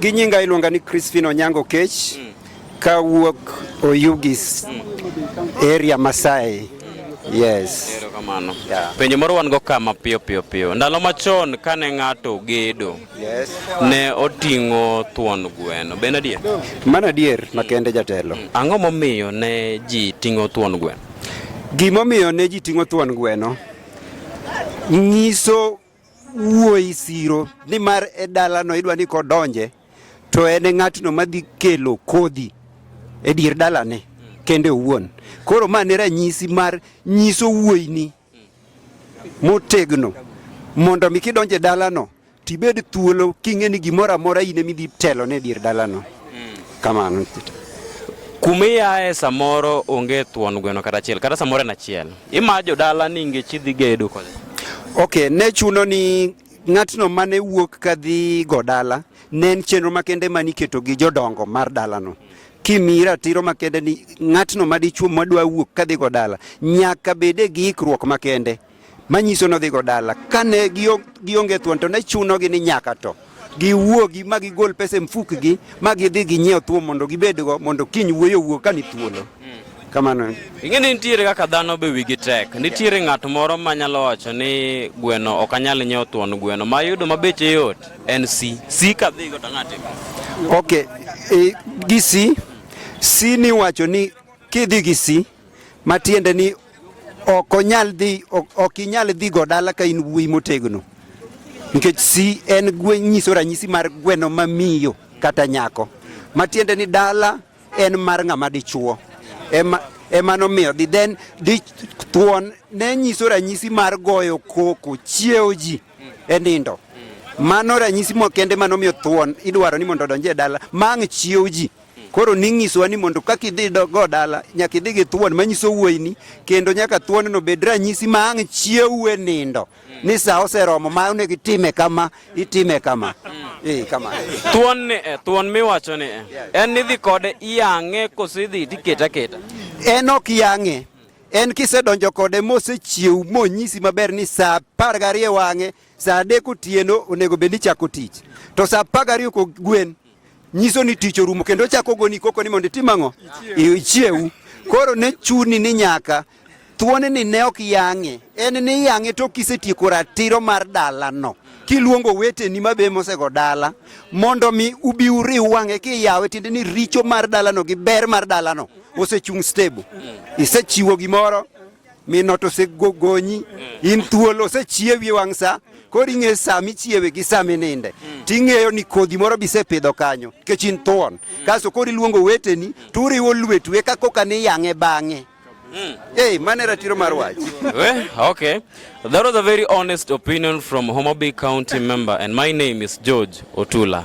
Gi nyinga iluonga ni Crispin Onyango Kech mm. ka wuok Oyugis mm. area Masai. Yes. Erokamano. Yeah. Penjo moro wan go kama piyo piyo piyo. Ndalo machon kane ng'ato gedo. Yes. Ne oting'o thuon gweno. Ben adier? Mano adier makende jatelo. Mm. Ang'o momiyo ne ji ting'o thuon gweno? Gimomiyo ne ji ting'o thuon gweno nyiso wuoyi siro ni mar e dalano idwa ni kodonje to en e ng'atno madhi kelo kodhi e dier dalane kende owuon. Koro ma ne ranyisi mar nyiso wuoyini motegno mondo mi kidonje dalano tibed thuolo king'e ni gimoro amora in emidhi telo ne dier dalano. Mm. Kamano. Kumiyae samoro onge thuon gweno kata achiel kata samoro en achiel. Ima jodala ni ngech idhi gedo kode. Okay, ne chuno ni ng'atno mane wuok kadhi go dala ne en chenro makende mane iketo gi jodongo mar dalano. Mm. kimi ratiro makende ni ng'atno madichuo madwa wuok kadhigo dala nyaka bede gi ikruok makende manyiso nodhigo dala kane gionge thuon to ne chunogi ni nyaka to giwuogi ma gigol pesa e mfukgi ma gidhi ginyiew thuon mondo gibedgo mondo kiny wuoyo wuo ka ni thuolo hmm. kamano ing'e ni nitiere kaka dhano be wigi tek nitiere ng'at moro ma nyalo wacho ni gweno ok anyal nyiewo thuon gweno ma yudo ma beche yot en si si ka dhigo to ng'ate ok e, gi si si ni wacho ni kidhi gi si Matiende ni ok onyal dhi ok inyal dhi go dala ka in wuoyi motegno nikech si en gwe nyiso ranyisi mar gweno mamiyo kata nyako matiende ni dala en mar ng'ama dichuo ema ema nomiyo dhi then di thuon ne nyiso ranyisi mar goyo koko chiewo ji e nindo mano ranyisi mokende manomiyo thuon idwaro ni mondo odonje dala mang' chiewo ji Koro ning'isowa ni mondo kaka idhi go dala nyaka idhi gi thuon manyiso wuoyini kendo nyaka thuonno bed ranyisi ma ang' chiewu e nindo ni sa oseromo ma onego itime kama itime kama eh, kama thuon ni eh, thuon miwacho ni eh, en nidhi kode iyang'e kose idhi tiketa keta en ok yang'e en kisedonjo kode mosechiew monyisi maber ni saa apar gariyo wang'e saa adek otieno onego bed ni chako tich to saa apar gariyo kogwen nyiso ni tich orumo kendo ochako goni koko ni mondo itim ang'o ichiewu koro ne chuni ni nyaka thuone ni ne ok yang'e en ni yang'e to kisetieko ratiro mar dalano kiluongo weteni mabe mosego dala mondo mi ubi uriw wang'e kiyawe tiende ni richo mar dalano gi ber mar dalano osechung' stable isechiwo gimoro minot osegonyi in thuolo osechiewi wang' sa koro ing'e sa michiewe gi sa mininde mm. ting'eyo ni kodhi moro bisepidho kanyo nikech in thuon mm. kaso koro iluongo weteni to uriwo lwetu eka koka ni yang'e bang'e Mm. Hey, mane ratiro mar wach. well, okay. That was a very honest opinion from Homabay County member and my name is George Otula.